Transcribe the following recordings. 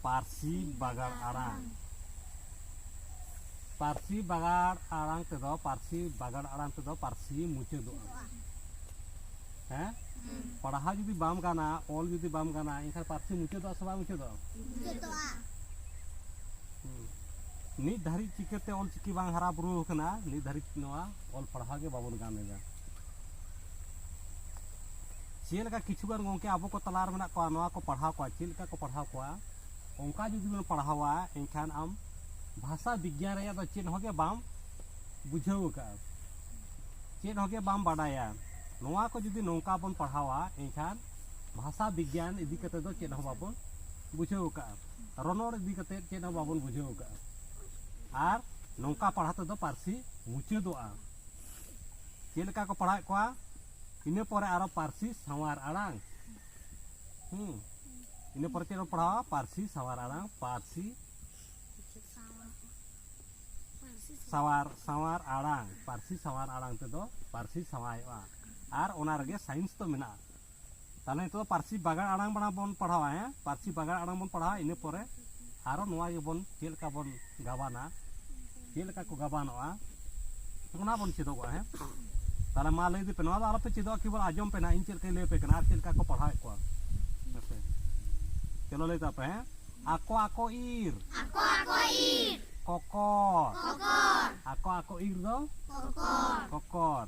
ᱯᱟᱹᱨᱥᱤ ᱵᱟᱜᱟᱲ ᱟᱲᱟᱝ ᱯᱟᱹᱨᱥᱤ ᱵᱟᱜᱟᱲ ᱟᱲᱟᱝ ᱛᱮᱫᱚ ᱯᱟᱹᱨᱥᱤ ᱵᱟᱜᱟᱲ ᱟᱲᱟᱝ ᱛᱮᱫᱚ ᱯᱟᱹᱨᱥᱤ ᱢᱩᱪᱟᱹᱫᱚᱜᱼᱟ ᱦᱮᱸ ᱯᱟᱲᱦᱟᱣ ᱡᱩᱫᱤ ᱵᱟᱢ ᱜᱟᱱᱟ ᱚᱞ ᱡᱩᱫᱤ ᱵᱟᱢ ᱜᱟᱱᱟ ᱮᱱᱠᱷᱟᱱ ᱯᱟᱹᱨᱥᱤ ᱢᱩᱪᱟᱹᱫᱚᱜᱼᱟ ᱥᱮ ᱵᱟᱝ ᱢᱩᱪᱟᱹᱫᱚᱜᱼᱟ ᱱᱤᱛ ᱫᱷᱟᱹᱨᱤᱡ ᱪᱤᱠᱟᱹᱛᱮ ᱚᱞ ᱪᱤᱠᱤ ᱵᱟᱝ ᱦᱟᱨᱟ ᱵᱩᱨᱩ ᱟᱠᱟᱱᱟ ᱱᱤᱛ ᱫᱷᱟᱹᱨᱤᱡ ᱱᱚᱣᱟ ᱚᱞ ᱯᱟᱲᱦᱟᱣ ᱜᱮ ᱵᱟᱵᱚᱱ ᱜᱟᱱ ᱮᱫᱟ ᱪᱮᱫᱞᱮᱠᱟ ᱠᱤᱪᱷᱩᱜᱟᱱ ᱜᱚᱝᱠᱮ ᱟᱵᱚ ᱠᱚ ᱛᱟᱞᱟᱨᱮ ᱢᱮᱱᱟᱜ ᱠᱚᱣᱟ ᱱᱚᱣᱟ ᱠᱚ ᱯᱟᱲᱦᱟᱣ ᱠᱚᱣᱟ ᱪᱮᱫ ᱞᱮᱠᱟ ᱠᱚ ᱯᱟᱲᱦᱟᱣ ᱠᱚᱣᱟ ᱚᱱᱠᱟ ᱡᱩᱫᱤ ᱵᱚᱱ ᱯᱟᱲᱦᱟᱣᱟ ᱮᱱᱠᱷᱟᱱ ᱟᱢ ᱵᱷᱟᱥᱟ ᱵᱤᱜᱽᱜᱟᱱ ᱨᱮᱭᱟᱜ ᱫᱚ ᱪᱮᱫ ᱦᱚᱸᱜᱮ ᱵᱟᱢ ᱵᱩᱡᱷᱟᱹᱣ ᱟᱠᱟᱫᱼᱟ ᱪᱮᱫ ᱦᱚᱸᱜᱮ ᱵᱟᱢ ᱵᱟᱰᱟᱭᱟ ᱱᱚᱣᱟ ᱠᱚ ᱡᱩᱫᱤ ᱱᱚᱝᱠᱟ ᱵᱚᱱ ᱯᱟᱲᱦᱟᱣᱟ ᱮᱱᱠᱷᱟᱱ ᱵᱷᱟᱥᱟ ᱵᱤᱜᱽᱜᱟᱱ ᱤᱫᱤ ᱠᱟᱛᱮ ᱫᱚ ᱪᱮᱫ ᱦᱚᱸ ᱵᱟᱵᱚᱱ ᱵᱩᱡᱷᱟᱹᱣ ᱟᱠᱟᱫᱼᱟ ᱨᱚᱱᱚᱲ ᱤᱫᱤ ᱠᱟᱛᱮ ᱪᱮᱫ ᱦᱚᱸ ᱵᱟᱵᱚᱱ ᱵᱩᱡᱷᱟᱹᱣ ᱟᱠᱟᱫᱼᱟ ᱟᱨ ᱱᱚᱝᱠᱟ ᱯᱟᱲᱦᱟᱣ ᱛᱮᱫᱚ ᱯᱟᱹᱨᱥᱤ ᱢᱩᱪᱟᱹᱫᱚᱜᱼᱟ ᱪᱮᱫ ᱞᱮᱠᱟ ᱠᱚ ᱯᱟᱲᱦᱟᱣᱮᱫ ᱠᱚᱣᱟ ᱤᱱᱟᱹ ᱯᱚᱨᱮ ᱟᱨᱚ ᱯᱟᱹᱨᱥᱤ ᱥᱟᱶᱟᱨ ᱟᱲᱟᱝ ᱦᱩᱸ ᱤᱱᱟᱹ ᱯᱚᱨᱮ ᱪᱮᱫ ᱵᱚᱱ ᱯᱟᱲᱦᱟᱣᱟ ᱯᱟᱹᱨᱥᱤ ᱥᱟᱶᱟᱨ ᱟᱲᱟᱝ ᱯᱟᱹᱨᱥᱤ ᱥᱟᱶᱟᱨ ᱥᱟᱶᱟᱨ ᱟᱲᱟᱝ ᱯᱟᱹᱨᱥᱤ ᱥᱟᱶᱟᱨ ᱟᱲᱟᱝ ᱛᱮᱫᱚ ᱯᱟᱹᱨᱥᱤ ᱥᱟᱶᱟᱭᱚᱜᱼᱟ ᱟᱨ ᱚᱱᱟ ᱨᱮᱜᱮ ᱥᱟᱭᱮᱱᱥ ᱫᱚ ᱢᱮᱱᱟᱜᱼᱟ ᱛᱟᱦᱚᱞᱮ ᱱᱤᱛᱚᱜ ᱫᱚ ᱯᱟᱹᱨᱥᱤ ᱵᱟᱜᱟᱲ ᱟᱲᱟᱝ ᱵᱟᱲᱟ ᱵᱚᱱ ᱯᱟᱲᱦᱟᱣᱟ ᱦᱮᱸ ᱯᱟᱹᱨᱥᱤ ᱵᱟᱜᱟᱲ ᱟᱲᱟᱝ ᱵᱚᱱ ᱯᱟᱲᱦᱟᱣᱟ ᱤᱱᱟᱹ ᱯᱚᱨᱮ ᱟᱨᱚ ᱱᱚᱣᱟ ᱜᱮᱵᱚᱱ ᱪᱮᱫ ᱞᱮᱠᱟ ᱵᱚᱱ ᱜᱟᱵᱟᱱᱟ ᱪᱮᱫ ᱞᱮᱠᱟ ᱠᱚ ᱜᱟᱵᱟᱱᱚᱜᱼᱟ ᱚᱱᱟ ᱵᱚᱱ ᱪᱮᱫᱚᱜᱚᱜᱼᱟ ᱦᱮᱸ ᱛᱟᱦᱚᱞᱮ ᱢᱟ ᱞᱟᱹᱭ ᱤᱫᱤᱯᱮ ᱱᱚᱣᱟ ᱫᱚ ᱟᱞᱚᱯᱮ ᱪᱮᱫᱚᱜᱼᱟ ᱠᱮᱵᱚᱞ ᱟᱸᱡᱚᱢ ᱯᱮ ᱱᱟ ᱤᱧ ᱪᱮᱫ ᱞᱮᱠᱟᱧ ᱞᱟᱹᱭ ᱟᱯᱮ ᱠᱟᱱᱟ ᱟᱨ ᱪᱮᱫ ᱞᱮᱠᱟ ᱠᱚ ᱯᱟᱲᱦᱟᱣᱮᱫ ᱠᱚᱣᱟ ᱦᱮᱸᱥᱮ ᱪᱚᱞᱚ ᱞᱟᱹᱭ ᱛᱟᱯᱮ ᱦᱮᱸ ᱟᱠᱚ ᱟᱠᱚ ᱤᱨ ᱟᱠᱚ ᱟᱠᱚ ᱤᱨ ᱠᱚᱠᱚᱨ ᱠᱚᱠᱚᱨ ᱟᱠᱚ ᱟᱠᱚ ᱤᱨ ᱫᱚ ᱠᱚᱠᱚᱨ ᱠᱚᱠᱚᱨ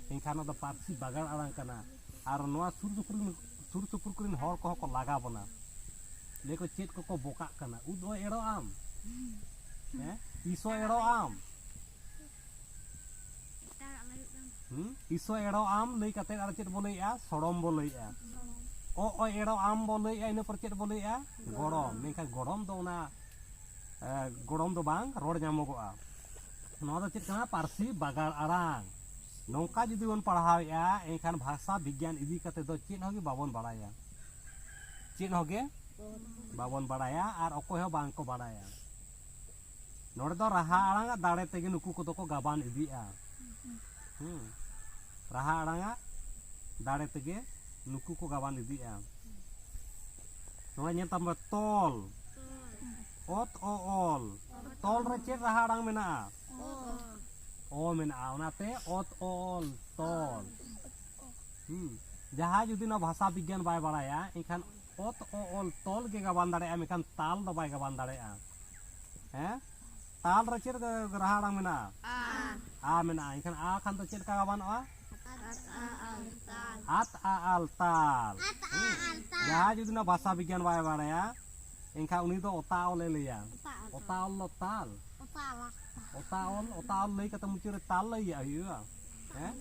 ᱮᱱᱠᱷᱟᱱ ᱚᱱᱟ ᱫᱚ ᱯᱟᱹᱨᱥᱤ ᱵᱟᱜᱟᱱ ᱟᱲᱟᱝ ᱠᱟᱱᱟ ᱟᱨ ᱱᱚᱣᱟ ᱥᱩᱨ ᱥᱩᱯᱩᱨ ᱥᱩᱨ ᱥᱩᱯᱩᱨ ᱠᱚᱨᱮᱱ ᱦᱚᱲ ᱠᱚᱦᱚᱸ ᱠᱚ ᱞᱟᱜᱟ ᱵᱚᱱᱟ ᱞᱟᱹᱭ ᱠᱚ ᱪᱮᱫ ᱠᱚᱠᱚ ᱵᱚᱠᱟᱜ ᱠᱟᱱᱟ ᱩᱫ ᱦᱚᱸ ᱮᱲᱚ ᱟᱢ ᱦᱮᱸ ᱛᱤᱥ ᱦᱚᱸ ᱮᱲᱚ ᱟᱢ ᱛᱤᱥ ᱦᱚᱸ ᱮᱲᱚ ᱟᱢ ᱞᱟᱹᱭ ᱠᱟᱛᱮ ᱟᱨ ᱪᱮᱫ ᱵᱚ ᱞᱟᱹᱭᱮᱜᱼᱟ ᱥᱚᱲᱚᱢ ᱵᱚ ᱞᱟᱹᱭᱮᱜᱼᱟ ᱚ ᱚ ᱮᱲᱚ ᱟᱢ ᱵᱚ ᱞᱟᱹᱭᱮᱜᱼᱟ ᱤᱱᱟᱹ ᱯᱚᱨ ᱪᱮᱫ ᱵᱚ ᱞᱟᱹᱭᱮᱜᱼᱟ ᱜᱚᱲᱚᱢ ᱢᱮᱱᱠᱷᱟᱱ ᱜᱚᱲᱚᱢ ᱫᱚ ᱚᱱᱟ ᱜᱚᱲᱚᱢ ᱫᱚ ᱵᱟᱝ ᱨᱚᱲ ᱧᱟᱢᱚᱜᱚᱜᱼᱟ ᱱᱚᱣᱟ ᱫᱚ ᱪᱮᱫ ᱠᱟᱱᱟ ᱯᱟᱹᱨᱥᱤ ᱵᱟᱜᱟᱲ ᱟᱲᱟᱝ ᱱᱚᱝᱠᱟ ᱡᱩᱫᱤ ᱵᱚᱱ ᱯᱟᱲᱦᱟᱣᱮᱫᱼᱟ ᱮᱱᱠᱷᱟᱱ ᱵᱷᱟᱥᱟ ᱵᱤᱜᱽᱜᱟᱱ ᱤᱫᱤ ᱠᱟᱛᱮ ᱫᱚ ᱪᱮᱫ ᱦᱚᱸ ᱜᱮ ᱵᱟᱵᱚᱱ ᱵᱟᱲᱟᱭᱟ ᱪᱮᱫ ᱦᱚᱸ ᱜᱮ ᱵᱟᱵᱚᱱ ᱵᱟᱲᱟᱭᱟ ᱟᱨ ᱚᱠᱚᱭ ᱦᱚᱸ ᱵᱟᱝ ᱠᱚ ᱵᱟᱲᱟᱭᱟ ᱱᱚᱰᱮ ᱫᱚ ᱨᱟᱦᱟ ᱟᱲᱟᱝ ᱟᱜ ᱫᱟᱲᱮ ᱛᱮᱜᱮ ᱱᱩᱠᱩ ᱠᱚᱫᱚ ᱠᱚ ᱜᱟᱵᱟᱱ ᱤᱫᱤᱜᱼᱟ ᱦᱩᱸ ᱨᱟᱦᱟ ᱟᱲᱟᱝ ᱟᱜ ᱫᱟᱲᱮ ᱛᱮᱜᱮ ᱱᱩᱠᱩ ᱠᱚ ᱜᱟᱵᱟᱱ ᱤᱫᱤᱜᱼᱟ ᱱᱚᱣᱟ ᱧᱮᱞ ᱛᱟᱢ ᱛᱚᱞ ᱚᱛ ᱚ ᱚᱞ ᱛᱚᱞ ᱨᱮ ᱪᱮᱫ ᱨᱟᱦᱟ ᱟᱲᱟᱝ ᱢᱮᱱᱟᱜᱼᱟ ᱚ ᱢᱮᱱᱟᱜᱼᱟ ᱚᱱᱟᱛᱮ ᱚᱛ ᱚᱞ ᱛᱚᱞ ᱦᱩᱸ ᱡᱟᱦᱟᱸᱭ ᱡᱩᱫᱤ ᱱᱚᱣᱟ ᱵᱷᱟᱥᱟ ᱵᱤᱜᱽᱜᱟᱱ ᱵᱟᱭ ᱵᱟᱲᱟᱭᱟ ᱮᱱᱠᱷᱟᱱ ᱚᱛ ᱚ ᱚᱞ ᱛᱚᱞ ᱜᱮ ᱜᱟᱵᱟᱱ ᱫᱟᱲᱮᱭᱟᱜᱼᱟ ᱢᱮᱱᱠᱷᱟᱱ ᱛᱟᱞ ᱫᱚ ᱵᱟᱭ ᱜᱟᱵᱟᱱ ᱫᱟᱲᱮᱭᱟᱜᱼᱟ ᱦᱮᱸ ᱛᱟᱞ ᱨᱮ ᱪᱮᱫ ᱨᱟᱦᱟ ᱟᱲᱟᱝ ᱢᱮᱱᱟᱜᱼᱟ ᱟ ᱢᱮᱱᱟᱜᱼᱟ ᱮᱱᱠᱷᱟᱱ ᱟ ᱠᱷᱟᱱ ᱫᱚ ᱪᱮᱫ ᱞᱮᱠᱟ ᱜᱟᱵᱟᱱᱚᱜᱼᱟ ᱟᱛ ᱟ ᱟᱞ ᱛᱟᱞ ᱡᱟᱦᱟᱸᱭ ᱡᱩᱫᱤ ᱱᱚᱣᱟ ᱵᱷᱟᱥᱟ ᱵᱤᱜᱽᱜᱟᱱ ᱵᱟᱭ ᱵᱟᱲᱟᱭᱟ ᱮᱱᱠᱷᱟᱱ ᱩᱱᱤ ᱫᱚ ᱚᱛᱟᱣᱞ ᱮ ᱞᱟᱹᱭᱟ ᱚᱛᱟᱣᱞ ᱫᱚ ᱛᱟᱞ ᱚᱛᱟᱣᱞ ᱚᱛᱟᱣᱞ ᱞᱟᱹᱭ ᱠᱟᱛᱮ ᱢᱩᱪᱟᱹᱫ ᱨᱮ ᱛᱟᱞ ᱞᱟᱹᱭᱟ ᱦᱩᱭᱩᱜᱼᱟ ᱦᱮᱸ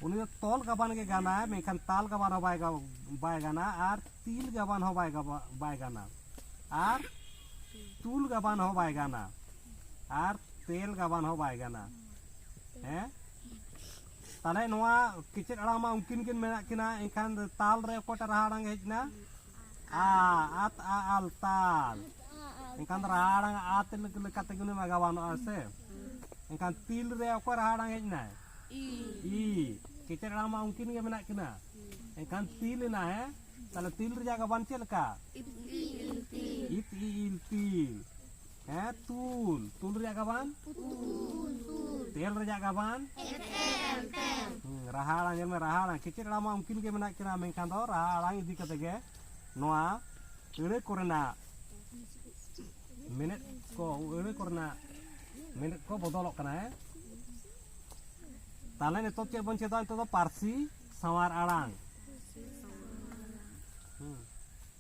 ᱩᱱᱤ ᱫᱚ ᱛᱚᱞ ᱜᱟᱵᱟᱱ ᱜᱮ ᱜᱟᱱᱟᱭ ᱢᱮᱱᱠᱷᱟᱱ ᱛᱟᱞ ᱜᱟᱵᱟᱱ ᱦᱚᱸ ᱵᱟᱭ ᱵᱟᱭ ᱜᱟᱱᱟ ᱟᱨ ᱛᱤᱞ ᱜᱟᱵᱟᱱ ᱦᱚᱸ ᱵᱟᱭ ᱵᱟᱭ ᱜᱟᱱᱟ ᱟᱨ ᱛᱩᱞ ᱜᱟᱵᱟᱱ ᱦᱚᱸ ᱵᱟᱭ ᱜᱟᱱᱟ ᱟᱨ ᱛᱮᱞ ᱜᱟᱵᱟᱱ ᱦᱚᱸ ᱵᱟᱭ ᱜᱟᱱᱟ ᱦᱮᱸ ᱛᱟᱦᱞᱮ ᱱᱚᱣᱟ ᱠᱮᱪᱮᱫ ᱟᱲᱟᱝ ᱢᱟ ᱩᱱᱠᱤᱱ ᱠᱤᱱ ᱢᱮᱱᱟᱜ ᱠᱤᱱᱟ ᱮᱱᱠᱷᱟᱱ ᱛᱟᱞ ᱨᱮ ᱚᱠᱚᱭᱴᱟᱜ ᱨᱟᱦᱟ ᱟᱲᱟᱝ ᱦᱮᱡ ᱮᱱᱟ ᱟ ᱟᱛ ᱟ ᱟᱞ ᱛᱟᱞ ᱮᱱᱠᱷᱟᱱ ᱨᱟᱦᱟ ᱟᱲᱟᱝ ᱟᱛ ᱞᱮᱠᱟ ᱛᱮᱜᱮ ᱩᱱᱤ ᱢᱟ ᱜᱟᱵᱟᱱᱚᱜᱼᱟ ᱥᱮ ᱮᱱᱠᱷᱟᱱ ᱛᱤᱞ ᱨᱮ ᱚᱠᱚᱭ ᱨᱟᱦᱟ ᱟᱲᱟᱝ ᱦᱮᱡ ᱮᱱᱟᱭ ᱤ ᱠᱮᱪᱮᱫ ᱟᱲᱟᱝ ᱢᱟ ᱩᱱᱠᱤᱱ ᱜᱮ ᱢᱮᱱᱟᱜ ᱠᱤᱱᱟ ᱮᱱᱠᱷᱟᱱ ᱛᱤᱞ ᱮᱱᱟ ᱦᱮᱸ ᱛᱟᱦᱞᱮ ᱛᱤᱞ ᱨᱮᱭᱟᱜ ᱜᱟᱵᱟᱱ ᱪᱮᱫ ᱞᱮᱠᱟ ᱤᱛ ᱤ ᱤᱞ ᱛᱤᱞ ᱦᱮᱸ ᱛᱩᱞ ᱛᱩᱞ ᱨᱮᱭᱟᱜ ᱜᱟᱵᱟᱱ ᱛᱮᱞ ᱨᱮᱭᱟᱜ ᱜᱟᱵᱟᱱ ᱨᱟᱦᱟ ᱟᱲᱟᱝ ᱧᱮᱞ ᱢᱮ ᱨᱟᱦᱟ ᱟᱲᱟᱝ ᱠᱮᱪᱮᱫ ᱟᱲᱟᱝ ᱢᱟ ᱩᱱᱠᱤᱱ ᱜᱮ ᱢᱮᱱᱟᱜ ᱠᱤᱱᱟ ᱢᱮᱱᱠᱷᱟᱱ ᱫᱚ ᱨᱟᱦᱟ ᱟᱲᱟᱝ ᱤᱫᱤ ᱠᱟᱛᱮ ᱜᱮ ᱱᱚᱣᱟ ᱟᱹᱲᱟᱹ ᱠᱚᱨᱮᱱᱟᱜ ᱢᱮᱱᱮᱫ ᱠᱚ ᱟᱹᱲᱟᱹ ᱠᱚᱨᱮᱱᱟᱜ ᱢᱮᱱᱮᱫ ᱠᱚ ᱵᱚᱫᱚᱞᱚᱜ ᱠᱟᱱᱟ ᱦᱮᱸ ᱛᱟᱦᱚᱞᱮ ᱱᱤᱛᱚᱜ ᱪᱮᱫ ᱵᱚᱱ ᱪᱮᱫᱟ ᱱᱤᱛᱚᱜ ᱫᱚ ᱯᱟᱹᱨᱥᱤ ᱥᱟᱶᱟᱨ ᱟᱲᱟᱝ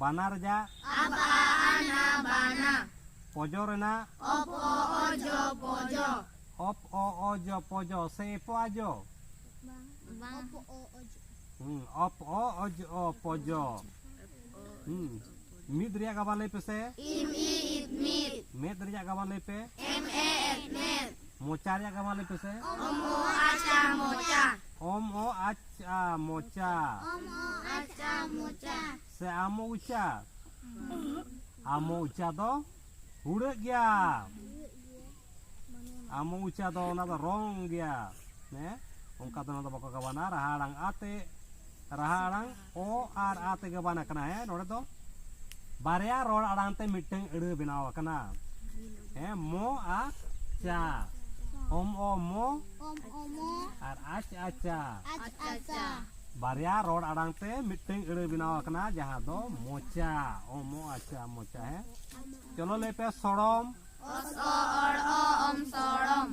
ᱵᱟᱱᱟᱨ ᱡᱟ ᱟᱵᱟ ᱟᱱᱟ ᱵᱟᱱᱟ ᱯᱚᱡᱚ ᱨᱮᱱᱟᱜ ᱚᱯ ᱚ ᱚᱡᱚ ᱯᱚᱡᱚ ᱚᱯ ᱚ ᱚᱡᱚ ᱯᱚᱡᱚ ᱥᱮ ᱮᱯᱚ ᱟᱡᱚ ᱵᱟᱝ ᱚᱯ ᱚ ᱚᱡᱚ ᱦᱩᱸ ᱚᱯ ᱚ ᱚᱡᱚ ᱯᱚᱡᱚ ᱦᱩᱸ ᱢᱤᱫ ᱨᱮᱭᱟᱜ ᱜᱟᱵᱟ ᱞᱟᱹᱭ ᱯᱮᱥᱮ ᱤᱢ ᱤ ᱤᱫ ᱢᱤᱫ ᱢᱮᱫ ᱨᱮᱭᱟᱜ ᱜᱟᱵᱟ ᱞᱟᱹᱭ ᱯᱮ ᱮᱢ ᱮ ᱮᱫ ᱢᱮᱫ ᱢᱚᱪᱟ ᱨᱮᱭᱟᱜ ᱜᱟᱵᱟ ᱞᱟᱹᱭ ᱯᱮᱥᱮ ᱚᱢ ᱚ ᱟᱪᱟ ᱢᱚᱪᱟ ᱚᱢ ᱚ ᱟᱪ ᱪᱟ ᱢᱚᱪᱟ ᱟᱪᱟ ᱢᱚᱪᱟ ᱥᱮ ᱟᱢᱚ ᱩᱪᱟ ᱟᱢᱚ ᱩᱪᱟ ᱫᱚ ᱦᱩᱲᱟᱹᱜ ᱜᱮᱭᱟ ᱟᱢᱚ ᱩᱪᱟ ᱫᱚ ᱚᱱᱟ ᱫᱚ ᱨᱚᱝ ᱜᱮᱭᱟ ᱦᱮᱸ ᱚᱱᱠᱟ ᱫᱚ ᱚᱱᱟ ᱫᱚ ᱵᱟᱠᱚ ᱜᱟᱵᱟᱱᱟ ᱨᱟᱦᱟ ᱟᱲᱟᱝ ᱟᱛᱮ ᱨᱟᱦᱟ ᱟᱲᱟᱝ ᱚ ᱟᱨ ᱟ ᱛᱮᱜᱮ ᱵᱟᱱ ᱟᱠᱟᱱᱟ ᱦᱮᱸ ᱱᱚᱰᱮ ᱫᱚ ᱵᱟᱨᱭᱟ ᱨᱚᱲ ᱟᱲᱟᱝ ᱛᱮ ᱢᱤᱫᱴᱟᱝ ᱟᱹᱲᱟᱹ ᱵᱮᱱᱟᱣ ᱟᱠᱟᱱᱟ ᱦᱮᱸ ᱢᱚ ᱟᱨ ᱪᱟ ᱚᱢ ᱚ ᱢᱚ ᱟᱨ ᱟᱪ ᱟᱪᱟ ᱵᱟᱨᱭᱟ ᱨᱚᱲ ᱟᱲᱟᱝ ᱛᱮ ᱢᱤᱫᱴᱟᱝ ᱟᱹᱲᱟᱹ ᱵᱮᱱᱟᱣ ᱟᱠᱟᱱᱟ ᱡᱟᱦᱟᱸ ᱫᱚ ᱢᱚᱪᱟ ᱚ ᱢᱚ ᱟᱪᱟ ᱢᱚᱪᱟ ᱦᱮᱸ ᱪᱚᱞᱚ ᱞᱟᱹᱭ ᱯᱮ ᱥᱚᱲᱚᱢ ᱚᱥ ᱚ ᱚᱲ ᱚ ᱚᱢ ᱥᱚᱲᱚᱢ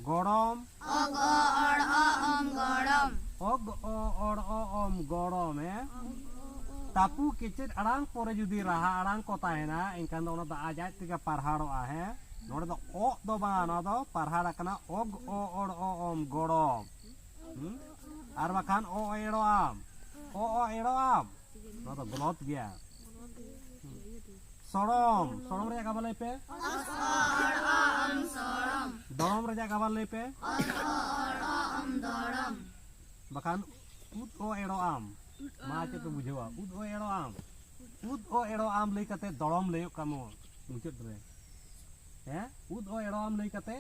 ᱜᱚᱲᱚᱢ ᱚᱜ ᱚ ᱚᱲ ᱚ ᱚᱢ ᱜᱚᱲᱚᱢ ᱚᱜ ᱚ ᱚᱲ ᱚ ᱚᱢ ᱜᱚᱲᱚᱢ ᱮ ᱛᱟᱯᱩ ᱠᱮᱪᱮᱫ ᱟᱲᱟᱝ ᱯᱚᱨᱮ ᱡᱩᱫᱤ ᱨᱟᱦᱟ ᱟᱲᱟᱝ ᱠᱚ ᱛᱟᱦᱮᱱᱟ ᱮᱱᱠᱷᱟᱱ ᱫᱚ ᱚᱱᱟ ᱫᱚ ᱟᱡ ᱟᱡ ᱛᱮᱜᱮ ᱯᱟᱨᱦᱟᱲᱚᱜᱼᱟ ᱦᱮᱸ ᱱᱚᱰᱮ ᱫᱚ ᱚᱜ ᱫᱚ ᱵᱟᱝ ᱱᱚᱣᱟ ᱫᱚ ᱯᱟᱨᱦᱟᱲ ᱟᱠᱟᱱᱟ ᱚᱜ ᱚ ᱚᱲ ᱚ ᱚᱢ ᱜᱚᱲᱚᱢ ᱟᱨ ᱵᱟᱠᱷᱟᱱ ᱚ ᱮᱲᱚ ᱟᱢ ᱚ ᱚ ᱮᱲᱚ ᱟᱢ ᱱᱚᱣᱟ ᱫᱚ ᱜᱚᱞᱚᱛ ᱜᱮᱭᱟ ᱥᱚᱲᱚᱢ ᱥᱚᱲᱚᱢ ᱨᱮᱭᱟᱜ ᱠᱟᱵᱟ ᱞᱟᱹᱭ ᱯᱮ ᱫᱚᱲᱚᱢ ᱨᱮᱭᱟᱜ ᱠᱟᱵᱟ ᱞᱟᱹᱭ ᱯᱮ ᱵᱟᱠᱷᱟᱱ ᱩᱫ ᱚ ᱮᱲᱚ ᱟᱢ ᱢᱟ ᱪᱮᱫ ᱯᱮ ᱵᱩᱡᱷᱟᱹᱣᱟ ᱩᱫ ᱚ ᱮᱲᱚ ᱟᱢ ᱩᱫ ᱚ ᱮᱲᱚ ᱟᱢ ᱞᱟᱹᱭ ᱠᱟᱛᱮ ᱫᱚᱲᱚᱢ ᱞᱟᱹᱭᱚᱜ ᱠᱟᱢᱚ ᱢᱩᱪᱟᱹᱫ ᱨᱮ ᱦᱮᱸ ᱩᱫ ᱚ ᱮᱲᱚ ᱟᱢ ᱞᱟᱹᱭ ᱠᱟᱛᱮ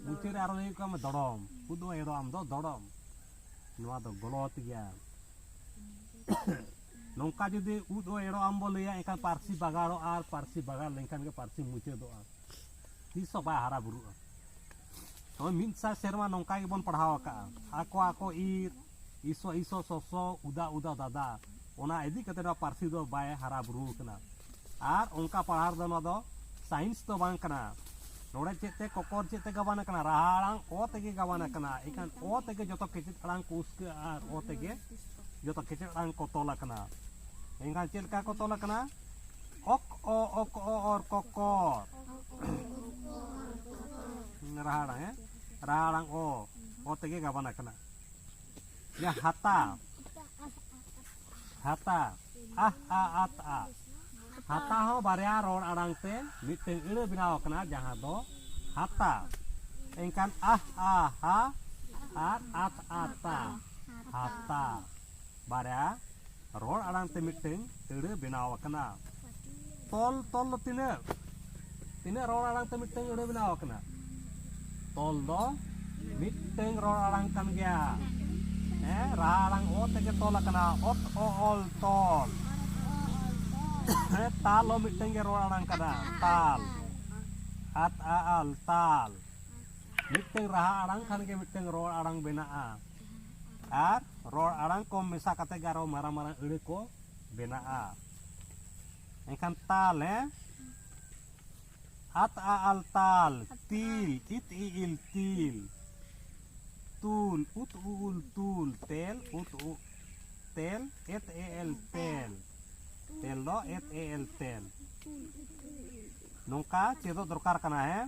ᱢᱩᱪᱟᱹᱫ ᱨᱮ ᱟᱨᱚ ᱞᱟᱹᱭᱚᱜ ᱠᱟᱢ ᱫᱚᱲᱚᱢ ᱩᱫ ᱚ ᱮᱲᱚ ᱟᱢ ᱫᱚ ᱫᱚᱲᱚᱢ ᱱᱚᱣᱟ ᱫᱚ ᱜᱚᱞᱚᱛ ᱜᱮᱭᱟ ᱱᱚᱝᱠᱟ ᱡᱩᱫᱤ ᱩᱫ ᱚ ᱮᱲᱚ ᱟᱢ ᱵᱚ ᱞᱟᱹᱭᱟ ᱮᱱᱠᱷᱟᱱ ᱯᱟᱹᱨᱥᱤ ᱵᱟᱜᱟᱲᱚᱜᱼᱟ ᱟᱨ ᱯᱟᱹᱨᱥᱤ ᱵᱟᱜᱟᱲ ᱞᱮᱱᱠᱷᱟᱱ ᱜᱮ ᱯᱟᱹᱨᱥᱤ ᱢᱩᱪᱟᱹᱫᱚᱜᱼᱟ ᱛᱤᱥ ᱦᱚᱸ ᱵᱟᱭ ᱦᱟᱨᱟ ᱵᱩᱨᱩᱜᱼᱟ ᱛᱚᱵᱮ ᱢᱤᱫ ᱥᱟᱭ ᱥᱮᱨᱢᱟ ᱱᱚᱝᱠᱟ ᱜᱮᱵᱚᱱ ᱯᱟᱲᱦᱟᱣ ᱟᱠᱟᱜᱼᱟ ᱟᱠᱚ ᱟᱠᱚ ᱤᱨ ᱤᱥᱚ ᱤᱥᱚ ᱥᱚᱥᱚ ᱩᱫᱟ ᱩᱫᱟ ᱫᱟᱫᱟ ᱚᱱᱟ ᱤᱫᱤ ᱠᱟᱛᱮ ᱱᱚᱣᱟ ᱯᱟᱹᱨᱥᱤ ᱫᱚ ᱵᱟᱭ ᱦᱟᱨᱟ ᱵᱩᱨᱩ ᱟᱠᱟᱱᱟ ᱟᱨ ᱚᱱᱠᱟ ᱯᱟᱲᱦᱟᱣ ᱨᱮᱫᱚ ᱱᱚᱣᱟ ᱫᱚ ᱥᱟᱭᱮᱱᱥ ᱫᱚ ᱵᱟᱝ ᱠᱟᱱᱟ ᱱᱚᱰᱮ ᱪᱮᱫ ᱛᱮ ᱠᱚᱠᱚᱨ ᱪᱮᱫ ᱛᱮ ᱜᱟᱵᱟᱱ ᱟᱠᱟᱱᱟ ᱨᱟᱦᱟ ᱟᱲᱟᱝ ᱚ ᱛᱮᱜᱮ ᱜᱟᱵᱟᱱ ᱟᱠᱟᱱᱟ ᱮᱱᱠᱷᱟᱱ ᱚ ᱛᱮᱜᱮ ᱡᱚᱛᱚ ᱠᱮᱪᱮᱫ ᱟᱲᱟᱝ ᱠᱚ ᱩᱥᱠᱟᱹᱜᱼᱟ ᱟᱨ ᱚ ᱛᱮᱜᱮ ᱡᱚᱛᱚ ᱠᱮᱪᱮᱫ ᱟᱲᱟᱝ ᱠᱚ ᱛᱚᱞ ᱟᱠᱟᱱᱟ ᱮᱱᱠᱷᱟᱱ ᱪᱮᱫ ᱞᱮᱠᱟ ᱠᱚ ᱛᱚᱞ ᱟᱠᱟᱱᱟ ᱚᱠ ᱚ ᱚᱠ ᱚ ᱚᱨ ᱠᱚᱠᱚᱨ ᱨᱟᱦᱟ ᱟᱲᱟᱝ ᱦᱮᱸ ᱨᱟᱦᱟ ᱟᱲᱟᱝ ᱚ ᱚ ᱛᱮᱜᱮ ᱜᱟᱵᱟᱱ ᱟᱠᱟᱱᱟ ᱡᱟ ᱦᱟᱛᱟ ᱦᱟᱛᱟ ᱟᱦ ᱟ ᱟᱛ ᱟ ᱦᱟᱛᱟ ᱦᱚᱸ ᱵᱟᱨᱭᱟ ᱨᱚᱲ ᱟᱲᱟᱝ ᱛᱮ ᱢᱤᱫᱴᱟᱝ ᱟᱹᱲᱟᱹ ᱵᱮᱱᱟᱣ ᱟᱠᱟᱱᱟ ᱡᱟᱦᱟᱸ ᱫᱚ ᱦᱟᱛᱟ ᱮᱱᱠᱷᱟᱱ ᱟᱦ ᱟ ᱦᱟ ᱟᱨ ᱟᱛ ᱟᱛᱟ ᱦᱟᱛᱟ ᱵᱟᱨᱭᱟ ᱨᱚᱲ ᱟᱲᱟᱝ ᱛᱮ ᱢᱤᱫᱴᱟᱝ ᱟᱹᱲᱟᱹ ᱵᱮᱱᱟᱣ ᱟᱠᱟᱱᱟ ᱛᱚᱞ ᱛᱚᱞ ᱫᱚ ᱛᱤᱱᱟᱹᱜ ᱛᱤᱱᱟᱹᱜ ᱨᱚᱲ ᱟᱲᱟᱝ ᱛᱮ ᱢᱤᱫᱴᱟᱝ ᱟᱹᱲᱟᱹ ᱵᱮᱱᱟᱣ ᱟᱠᱟᱱᱟ ᱛᱚᱞ ᱫᱚ ᱢᱤᱫᱴᱟᱝ ᱨᱚᱲ ᱟᱲᱟᱝ ᱠᱟᱱ ᱜᱮᱭᱟ ᱦᱮᱸ ᱨᱟᱦᱟ ᱟᱲᱟᱝ ᱚ ᱛᱮᱜᱮ ᱛᱚᱞ ᱟᱠᱟᱱᱟ ᱚᱛ ᱚ ᱚᱞ ᱛᱚᱞ ᱦᱮᱸ ᱛᱟᱞ ᱦᱚᱸ ᱢᱤᱫᱴᱟᱝ ᱜᱮ ᱨᱚᱲ ᱟᱲᱟᱝ ᱠᱟᱱᱟ ᱛᱟᱞ ᱟᱛ ᱟ ᱟᱞ ᱛᱟᱞ ᱢᱤᱫᱴᱟᱝ ᱨᱟᱦᱟ ᱟᱲᱟᱝ ᱠᱷᱟᱱ ᱜᱮ ᱢᱤᱫᱴᱟᱝ ᱨᱚᱲ ᱟᱲᱟᱝ ᱵᱮᱱᱟᱜᱼᱟ ᱟᱨ ᱨᱚᱲ ᱟᱲᱟᱝ ᱠᱚ ᱢᱮᱥᱟ ᱠᱟᱛᱮ ᱜᱮ ᱟᱨᱚ ᱢᱟᱨᱟᱝ ᱢᱟᱨᱟᱝ ᱟᱹᱲᱟᱹ ᱠᱚ ᱵᱮᱱᱟᱜᱼᱟ ᱮᱱᱠᱷᱟᱱ ᱛᱟᱞ ᱦᱮᱸ ᱟᱛ ᱟ ᱟᱞ ᱛᱟᱞ ᱛᱤᱞ ᱤᱛ ᱤ ᱤᱞ ᱛᱤᱞ ᱛᱩᱞ ᱩᱛ ᱩ ᱩᱞ ᱛᱩᱞ ᱛᱮᱞ ᱩᱛ ᱩ ᱛᱮᱞ ᱮᱛ ᱮ ᱮᱞ ᱛᱮᱞ ᱛᱮᱞ ᱫᱚ ᱮᱛ ᱮ ᱮᱞ ᱛᱮᱞ ᱱᱚᱝᱠᱟ ᱪᱮᱫᱚᱜ ᱫᱚᱨᱠᱟᱨ ᱠᱟᱱᱟ ᱦᱮᱸ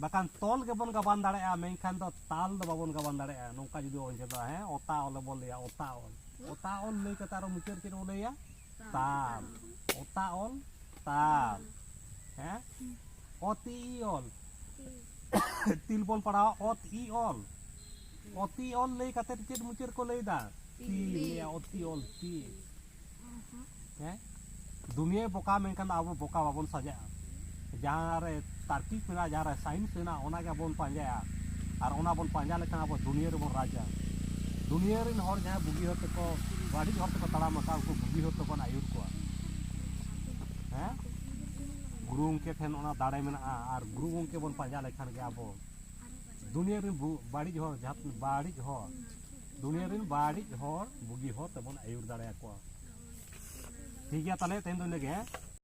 ᱵᱟᱠᱷᱟᱱ ᱛᱚᱞ ᱜᱮᱵᱚᱱ ᱜᱟᱵᱟᱱ ᱫᱟᱲᱮᱭᱟᱜᱼᱟ ᱢᱮᱱᱠᱷᱟᱱ ᱫᱚ ᱛᱟᱞ ᱫᱚ ᱵᱟᱵᱚᱱ ᱜᱟᱵᱟᱱ ᱫᱟᱲᱮᱭᱟᱜᱼᱟ ᱱᱚᱝᱠᱟ ᱡᱩᱫᱤ ᱵᱚᱱ ᱪᱮᱫᱚᱜᱼᱟ ᱦᱮᱸ ᱚᱛᱟ ᱚᱞ ᱵᱚᱱ ᱞᱟᱹᱭᱟ ᱚᱛᱟ ᱚᱞ ᱚᱛᱟ ᱚᱞ ᱞᱟᱹᱭ ᱠᱟᱛᱮ ᱟᱨᱚ ᱢᱩᱪᱟᱹᱫ ᱪᱮᱫ ᱵᱚᱱ ᱞᱟᱹᱭᱟ ᱛᱟᱞ ᱚᱛᱟ ᱚᱞ ᱛᱟᱞ ᱦᱮᱸ ᱚᱛᱤ ᱚᱞ ᱛᱤᱞ ᱵᱚᱱ ᱯᱟᱲᱦᱟᱣᱟ ᱚᱛ ᱤ ᱚᱞ ᱚᱛᱤ ᱚᱞ ᱞᱟᱹᱭ ᱠᱟᱛᱮ ᱪᱮᱫ ᱢᱩᱪᱟᱹᱫ ᱠᱚ ᱞᱟᱹᱭᱫᱟ ᱛᱤ ᱚᱛᱤ ᱚᱞ ᱛᱤ ᱦᱮᱸ ᱫᱩᱱᱤᱭᱟᱹ ᱵᱚᱠᱟ ᱢᱮᱱᱠᱷᱟᱱ ᱟᱵᱚ ᱵᱚᱠᱟ ᱵᱟᱵᱚᱱ ᱥᱟᱡᱟᱜᱼᱟ ᱡᱟᱦᱟᱸ ᱨᱮ ᱛᱟᱨᱠᱤᱠ ᱢᱮᱱᱟᱜᱼᱟ ᱡᱟᱦᱟᱸ ᱨᱮ ᱥᱟᱭᱮᱱᱥ ᱢᱮᱱᱟᱜᱼᱟ ᱚᱱᱟ ᱜᱮ ᱵᱚᱱ ᱯᱟᱸᱡᱟᱭᱟ ᱟᱨ ᱚᱱᱟ ᱵᱚᱱ ᱯᱟᱸᱡᱟ ᱞᱮᱠᱷᱟᱱ ᱟᱵᱚ ᱫᱩᱱᱤᱭᱟᱹ ᱨᱮᱵᱚᱱ ᱨᱟᱡᱟ ᱫᱩᱱᱤᱭᱟᱹ ᱨᱮᱱ ᱦᱚᱲ ᱡᱟᱦᱟᱸᱭ ᱵᱩᱜᱤ ᱦᱚᱲ ᱛᱮᱠᱚ ᱵᱟᱹᱲᱤᱡ ᱦᱚᱲ ᱛᱮᱠᱚ ᱛᱟᱲᱟᱢ ᱟᱠᱟᱫ ᱩᱱᱠᱩ ᱵᱩᱜᱤ ᱦᱚᱲ ᱛᱮᱵᱚᱱ ᱟᱹᱭᱩᱨ ᱠᱚᱣᱟ ᱦᱮᱸ ᱜᱩᱨᱩ ᱜᱚᱢᱠᱮ ᱴᱷᱮᱱ ᱚᱱᱟ ᱫᱟᱲᱮ ᱢᱮᱱᱟᱜᱼᱟ ᱟᱨ ᱜᱩᱨᱩ ᱜᱚᱢᱠᱮ ᱵᱚᱱ ᱯᱟᱸᱡᱟ ᱞᱮᱠᱷᱟᱱ ᱜᱮ ᱟᱵᱚ ᱫᱩᱱᱤᱭᱟᱹ ᱨᱮᱱ ᱵᱟᱹᱲᱤᱡ ᱦᱚᱲ ᱡᱟᱦᱟᱸ ᱵᱟᱹᱲᱤᱡ ᱦᱚᱲ ᱫᱩᱱᱤᱭᱟᱹ ᱨᱮᱱ ᱵᱟᱹᱲᱤᱡ ᱦᱚᱲ ᱵᱩᱜᱤ ᱦᱚᱲ ᱛᱮᱵᱚᱱ ᱟᱹᱭᱩᱨ ᱫᱟᱲᱮᱭᱟᱠᱚᱣᱟ ᱴᱷᱤᱠ ᱜᱮᱭᱟ ᱛᱟᱦᱚᱞᱮ ᱛᱮᱦᱮᱧ ᱫᱚ ᱤᱱᱟᱹᱜᱮ ᱦᱮᱸ